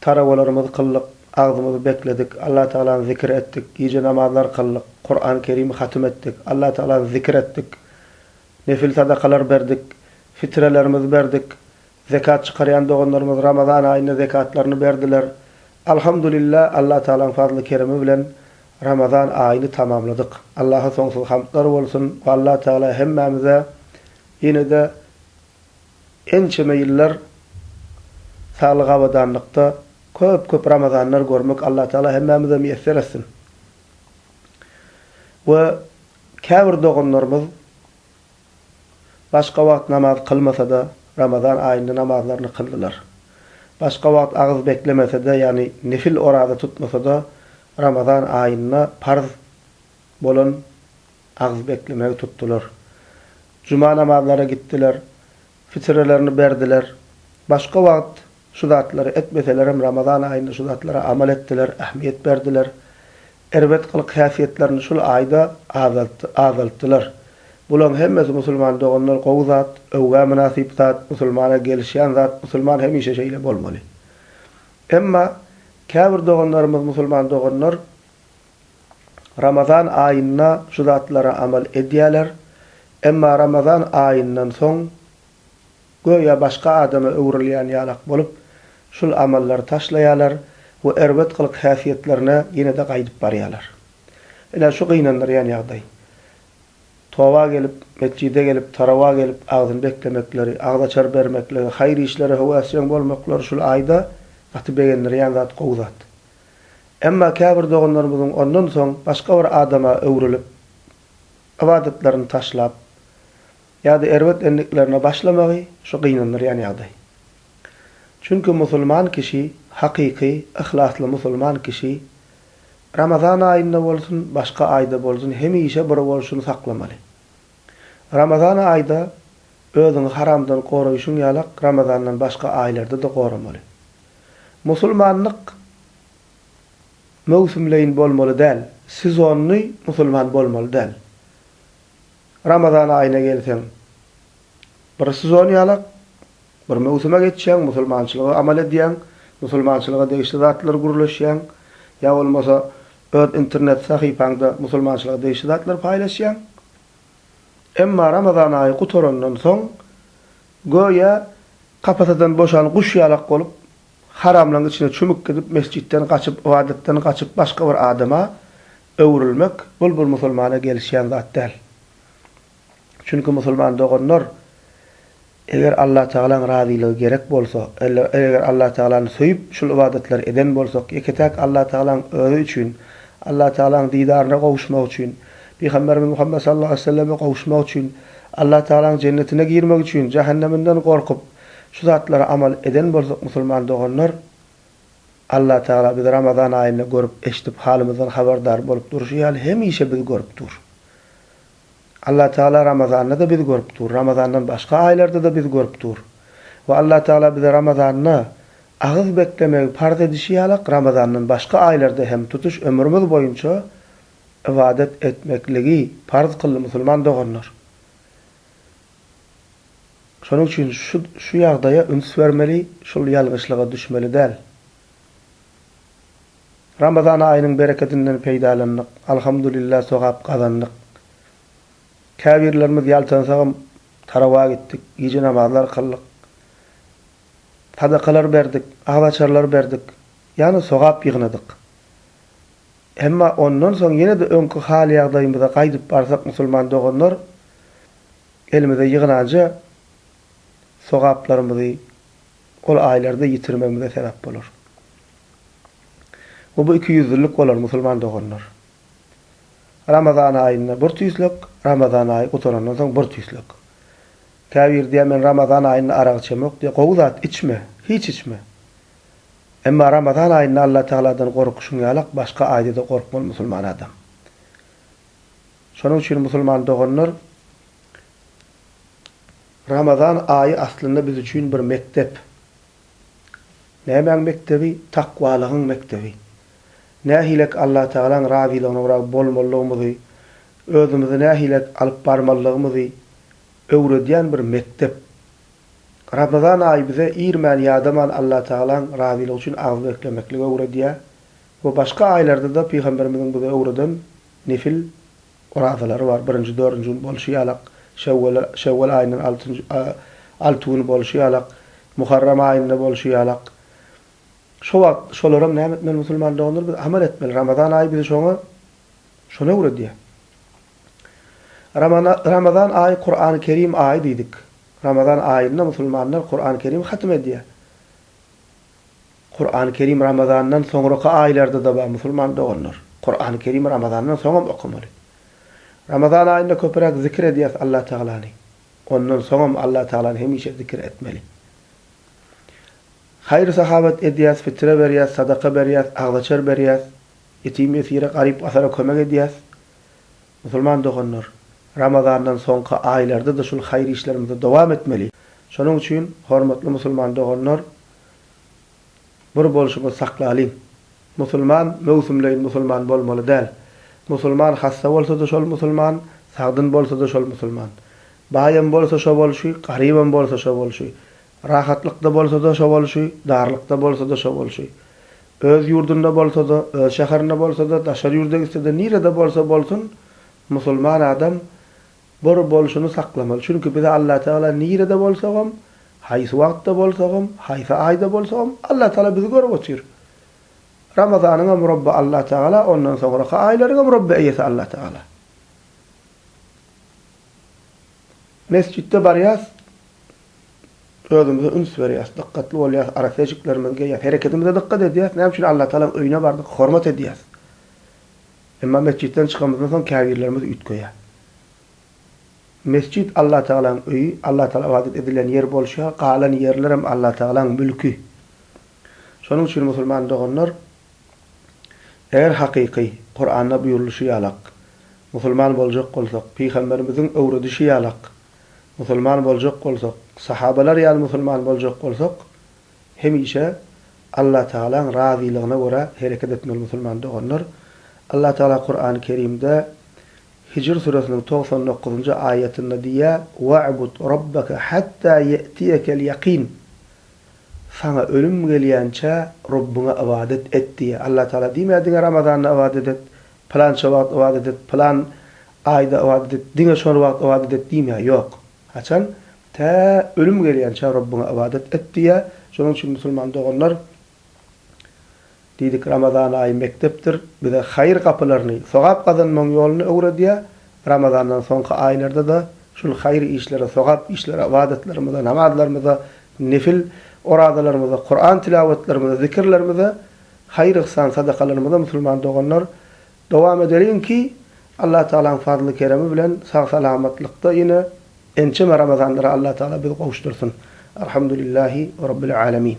Tarawalarymyzy kyldyk, agzymyzy bekledik, Allatagalany zikir etdik, gije namazlary kyldyk, Kurany Kerimi hatym etdik, Allatagalany zikir etdik, nefil sadakalar berdik, fitrelerimizi berdik, zekat çykarýan doganlarymyz Ramazan aýynda zekatlaryny berdiler. Alhamdulilla, Allatagalaň fazly-keremi bilen Ramazan aýyny tamamladyk. Allaha soňsuz hamdlar bolsun we Allatagala hemmämize ýene-de Ençeme ýyllar saglyk abadanlykda köp köp ramazanlar görmek Allah Taala hemmämize miýesser etsin. We käbir doganlarymyz başga wagt namaz kylmasada ramazan aýynda namazlaryny kyldylar. Başga wagt agyz beklemesede ýagny nefil oraza tutmasada ramazan aýynda parz bolan agyz beklemegi tutdular. Juma namazlara gitdiler, fitrelerini berdiler. Başga wagt şu zatlary etmeselerem Ramazan aýynda şu zatlara amal etdiler, ähmiýet berdiler. Erbet gylyk-häsiýetlerini şul aýda azaltdylar. Bulaň hemmesi musulman doganlar gowy zat, öwgä mynasyp zat, musulmana gelişýän zat, musulman hemişe şeýle bolmaly. Emma käbir doganlarymyz musulman doganlar Ramazan aýynda şu zatlara amal edýärler, emma Ramazan aýyndan soň göýä başga adama öwrülýän ýalak bolup, şul amallary taşlaýarlar we erbet gylyk-häsiýetlerine ýene-de gaýdyp barýarlar. Ine, şu gynandyrýan ýagdaý. Toba gelip, metjide gelip, tarawa gelip, agzyny beklemekleri, agzaçar bermekligi, haýyr işlere höwesjeň bolmaklary şul aýda gaty begendirýän zat, gowy zat. Emma käbir doganlarymyzyň ondan soň başga bir adama öwrülip, ybadatlaryny taşlap, ýa-da erbet endiklerine başlamagy şu gynandyrýan ýagdaý. Çünki musulman kişi, hakyky, yhlasly musulman kişi Ramazan aýynda bolsun, başga aýda bolsun hemişe bir bolşuny saklamaly. Ramazan aýda özüňi haramdan goraýşyň ýalak Ramazandan başga aýlarda-da goramaly. Musulmanlyk möwsümleýin bolmaly däl, sezonnyý musulman bolmaly däl. Ramazan aýyna gelseň, bir sezon ýalak, bir möwsüme geçýäň, musulmançylygy amal edýäň, musulmançylyga degişli zatlary gürleşýäň, ýa bolmasa öz internet sahypaňda musulmançylyga degişli zatlary paýlaşýaň. Emma Ramazan aýy gutarandan soň, Göýä, kapasadan boşan guş ýalak bolup, haramlaň içine çümüp gidip, mesjitden gaçyp, ybadatdan gaçyp, başga bir adama öwrülmek, bul bir musulmana gelişýän zat däl. Çünki musulman doganlar, eger Allatagalaň razylygy gerek bolsa, eger Allatagalany söýüp, şul ybadatlary eden bolsak, ýeke-täk Allatagalaň özi üçin, Allatagalaň didaryna gowuşmak üçin, Pygamberimiz Muhammet sallallahu aleýhi we selleme gowuşmak üçin, Allatagalaň jennetine girmek üçin jähenneminden gorkup, şu zatlara amal eden bolsak musulman doganlar, Allatagala bizi Ramazan aýynda görüp, eşidip, halymyzdan habardar bolup durşy ýaly hemişe bizi görüp dur. Allatagala Ramazanda-da bizi görüp dur, Ramazandan başga aýlarda-da bizi görüp dur. We Allatagala bize Ramazanda agyz beklemegi parz edişi ýalak, Ramazandan başga aýlarda hem tutuş ömrümiz boýunça ybadat etmekligi parz kyldy musulman doganlar. Şonuň üçin şu şu ýagdaýa üns bermeli, şul ýalňyşlyga düşmeli däl. Ramazan aýynyň berekedinden peýdalandyk, alhamdulillah sogap gazandyk. Käbirlerimiz ýaltansagam tarawa gitdik, gije namazlar kyldyk. Sadakalar berdik, agzaçarlar berdik, ýagny sogap ýygnadyk. Emma ondan soň ýene-de öňki hal-ýagdaýymyza gaýdyp barsak musulman doganlar, elimize ýygnanja sogaplarymyzy ol aýlarda ýitirmegimize sebäp bolar. We bu ikiýüzlülik bolar musulman doganlar. Ramazan aýynda bir tüýslek, Ramazan aýy gutarandan soň bir tüýslek. Käbir diýýär men Ramazan aýynda arak içemok diýýär, gowy zat içme, hiç içme. Emma Ramazan aýynda Allatagaladan gorkuşyň ýalak başga aýda-da gorkmaly musulman adam. Şonuň üçin musulman doganlar Ramazan aýy aslynda biz üçin bir mekdep. Nämäň mekdebi? Takwalygyň mekdebi. Nähilek Allatagalaň razylygyna görä bolmalygymyzy, özümizi nähilek alyp barmalygymyzy öwredýän bir mekdep. Ramazan aýy bize irmän-ýadaman Allatagalaň razylygy üçin agyz beklemekligi öwredýär we başga aýlarda-da Pygamberimiziň bize öwreden nefil orazalary bar, birinji, dördünji gün bolşy ýalak, şewwal aýyndan altynjy, alty güni bolşy ýalak, muharram aýynda bolşy ýalak. Şo wagt şolaram näme etmeli musulman doganlar? Biz amal etmeli. Ramazan aýy bizi şoňa, şony öwredýär. Ramazan aýy Kurany Kerim aýy diýdik. Ramazan aýynda musulmanlar Kurany Kerim hatym edýär. Kurany Kerim Ramazandan soňraky aýlarda-da bar musulman doganlar. Kurany Kerimi Ramazandan soňam okamaly. Ramazan aýynda köpüräk zikir edýäs Allatagalany. Ondan soňam Allatagalany hemişe zikir etmeli. Haýyr-sahawat edýäs, fitre berýäs, sadaka berýäs, agzaçar berýäs, ýetim-ýesire, garyp-gasara kömek edýäs. Musulman doganlar, Ramazandan soňky aýlarda-da şul haýyr işlerimizi dowam etmeli. Şonuň üçin, hormatly musulman doganlar, bir bolşumyzy saklalyň. Musulman möwsümleýin musulman bolmaly däl. Musulman hassa bolsa-da şol musulman, sagdyn bolsa-da şol musulman. Baýam bolsa şo bolşy, garybam bolsa şo bolşy. Rahatlykda bolsa-da şo bolşy, darlykda bolsa-da şo bolşy. Öz ýurdunda bolsa-da, öz şäherinde bolsa-da, daşary ýurda gitse-de, nirede bolsa bolsun, musulman adam bir bolşuny saklamaly. Çünki bize Allatagala nirede bolsagam, haýsy wagtda bolsagam, haýsy aýda bolsagam, Allatagala bizi görüp otyr. Ramazanyňam Rabby Allatagala, ondan soňraky aýlaryňam Rabby eýesi Allatagala. Mesjitde barýas, özümize üns berýäs, dykgatly bolýas, arassa eşiklerimizi geýýäs, hereketimize dykgat edýäs, näme üçin Allatagalaň öýüne bardyk, hormat edýäs. Emma metjitden çykanymyzdan soň käbirlerimiz üýtgeýär. Metjit Allatagalaň öýi, Allatagala ybadat edilen ýer bolşy ýaly, galan ýerlerem Allatagalaň mülki. Şonuň üçin musulman doganlar, eger hakyky, Kuranda buýrulyşy ýalak, musulman boljak bolsak, pygamberimiziň öwredişi ýalak, Musulman boljak bolsak, sahabalar ýaly musulman boljak bolsak, hemişe Allatagalaň razylygyna görä hereket etmeli musulman doganlar. Allatagala Kurany Kerimde Hijr süresiniň togsan dokuzynjy aýatynda diýýär, Wa'bud Rabbaka hatta ýe'tiýekel ýakin, Saňa ölüm gelýänçä Robbiňe ybadat et diýýär. Allatagala diýmeýär diňe Ramazanda ybadat et, Pylança wagt ybadat et, pylan aýda ybadat et, diňe şol wagt ybadat et diýmýär, ýok. Haçan? Tä ölüm gelýänçä Rabbyňa ybadat et diýýär. Şonuň üçin musulman doganlar, diýdik, Ramazan aýy mekdepdir, bize haýyr gapylaryny, sogap gazanmagyň ýoluny öwredýär. Ramazandan soňky aýlarda-da şul haýyr işlere, sogap işlere, ybadatlarymyza, namazlarymyza, nefil orazalarymyza, Kuran tilawatlarymyza, zikirlerimize, haýyr-yhsan, sadakalarymyza musulman doganlar dowam edeliň ki, Allah Tagalaň fazly-keremi bilen sag-salamatlykda ýene ençeme Ramazanlara Allah Tagala bizi gowuşdyrsyn. Alhamdulillahi Rabbil Alemin.